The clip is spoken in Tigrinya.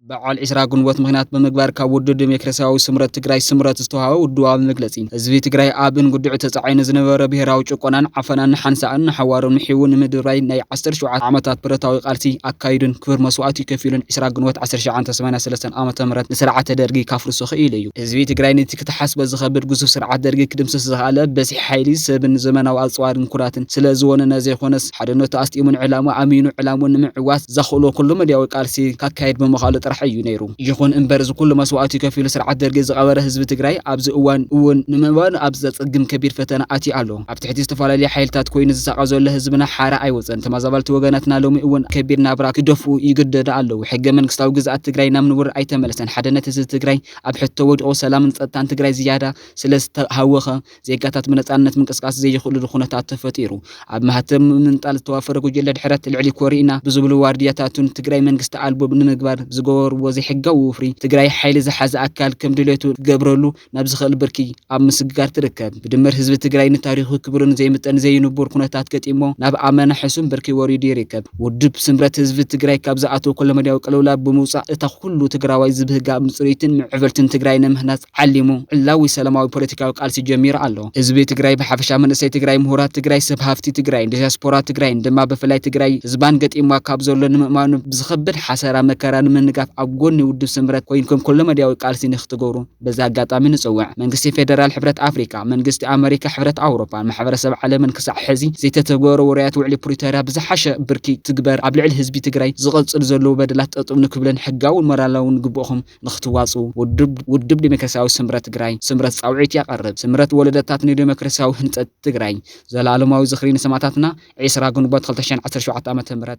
በዓል ዕስራ ግንቦት ምኽንያት ብምግባር ካብ ውድብ ዴሞክራሲያዊ ስምረት ትግራይ፣ ስምረት፣ ዝተውሃበ ውድባዊ መግለጺ፣ ህዝቢ ትግራይ ኣብ እንጉድዕ ተጻዒኑ ዝነበረ ብሄራዊ ጭቆናን ዓፈናን ንሓንሳእን ንሓዋሩን ምሒዉ ንምድርባይ ናይ ዓሰርተ ሸውዓተ ዓመታት ብረታዊ ቃልሲ ኣካይዱን ክብር መስዋእቲ ከፊሉን ዕስራ ግንቦት ዓሰርተ ሸውዓተ ሰማንያ ሰለስተ ዓ.ም ንስርዓተ ደርጊ ካፍርሶ ክኢሉ እዩ። ህዝቢ ትግራይ ነቲ ክትሓስቦ ዝኸብድ ግዙፍ ስርዓት ደርጊ ክድምስስ ዝኸኣለ በዝሒ ሓይሊ ሰብን ዘመናዊ ኣጽዋርን ኩራትን ስለ ዝወነነ ዘይኮነስ፣ ሓድነቱ ኣስጢሙን ዕላምኡ ኣሚኑ ዕላምኡ ንምዕዋት ዘኽእሎ ኩሉ መዳያዊ ቃልሲ ካካየድ ብምኽኣሉ ጥራሕ እዩ ነይሩ። ይኹን እምበር እዚ ኩሉ መስዋእቲ ከፊሉ ስርዓት ደርጊ ዝቐበረ ህዝቢ ትግራይ ኣብዚ እዋን እውን ንምእባኑ ኣብ ዘፀግም ከቢድ ፈተና ኣትዩ ኣሎ። ኣብ ትሕቲ ዝተፈላለዩ ሓይልታት ኮይኑ ዝሳቐ ዘሎ ህዝብና ሓራ ኣይወፀን። ተመዛበልቲ ወገናትና ሎሚ እውን ከቢድ ናብራ ክደፍኡ ይግደዱ ኣለዉ። ሕገ መንግስታዊ ግዝኣት ትግራይ ናብ ንቡር ኣይተመለሰን። ሓድነት ህዝቢ ትግራይ ኣብ ሕቶ ወዲቑ ሰላምን ፀጥታን ትግራይ ዝያዳ ስለዝተሃወኸ ዜጋታት ብነጻነት ምንቅስቃስ ዘይኽእሉሉ ኩነታት ተፈጢሩ ኣብ ማህተም ምምንጣል ዝተዋፈረ ጉጅለ ድሕረት ልዕሊ ኮሪእና ብዝብሉ ዋርድያታቱን ትግራይ መንግስቲ ኣልቦ ንምግባር ዝገበርዎ ዘይሕጋዊ ወፍሪ ትግራይ ሓይሊ ዝሓዘ ኣካል ከም ድሌቱ ክገብረሉ ናብ ዝኽእል ብርኪ ኣብ ምስግጋር ትርከብ። ብድምር ህዝቢ ትግራይ ንታሪኹ ክብርን ዘይምጠን ዘይንቡር ኩነታት ገጢሞ ናብ ኣመና ሕሱም ብርኪ ወሪዱ ይርከብ። ውድብ ስምረት ህዝቢ ትግራይ ካብ ዝኣተዎ ኩለመዳያዊ ቅልውላው ብምውጻእ እታ ኩሉ ትግራዋይ ዝብህጋ ምጽርይትን ምዕብልትን ትግራይ ንምህናጽ ዓሊሙ ዕላዊ ሰላማዊ ፖለቲካዊ ቃልሲ ጀሚሩ ኣሎ። ህዝቢ ትግራይ ብሓፈሻ፣ መንእሰይ ትግራይ፣ ምሁራት ትግራይ፣ ሰብ ሃፍቲ ትግራይን ዲያስፖራ ትግራይን ድማ ብፍላይ ትግራይ ህዝባን ገጢምዋ ካብ ዘሎ ንምእማኑ ብዝኸብድ ሓሰራ መከራ ንምንጋፍ ኣብ ጎኒ ውድብ ስምረት ኮይንኩም ኩለመዳያዊ ቃልሲ ንክትገብሩ በዚ ኣጋጣሚ ንፅውዕ። መንግስቲ ፌደራል፣ ሕብረት ኣፍሪካ፣ መንግስቲ ኣመሪካ፣ ሕብረት ኣውሮፓን ማሕበረሰብ ዓለምን ክሳዕ ሕዚ ዘይተተግበሩ ውራያት ውዕሊ ፕሪቶርያ ብዝሓሸ ብርኪ ይትግበር፣ ኣብ ልዕሊ ህዝቢ ትግራይ ዝቐፅሉ ዘለዉ በደላት ጠጠው ንክብልን ሕጋውን ሞራላውን ግቡእኹም ንክትዋፅኡ ውድብ ውድብ ዴሞክራሲያዊ ስምረት ትግራይ፣ ስምረት፣ ፃውዒት ያቐርብ። ስምረት ወለደታት ንዴሞክራሲያዊ ህንፀት ትግራይ፣ ዘለኣለማዊ ዝኽሪ ንሰማእታትና፣ ዕስራ ግንቦት ክልተ ሽሕን ዓሰርተ ሸውዓተ ዓ ም።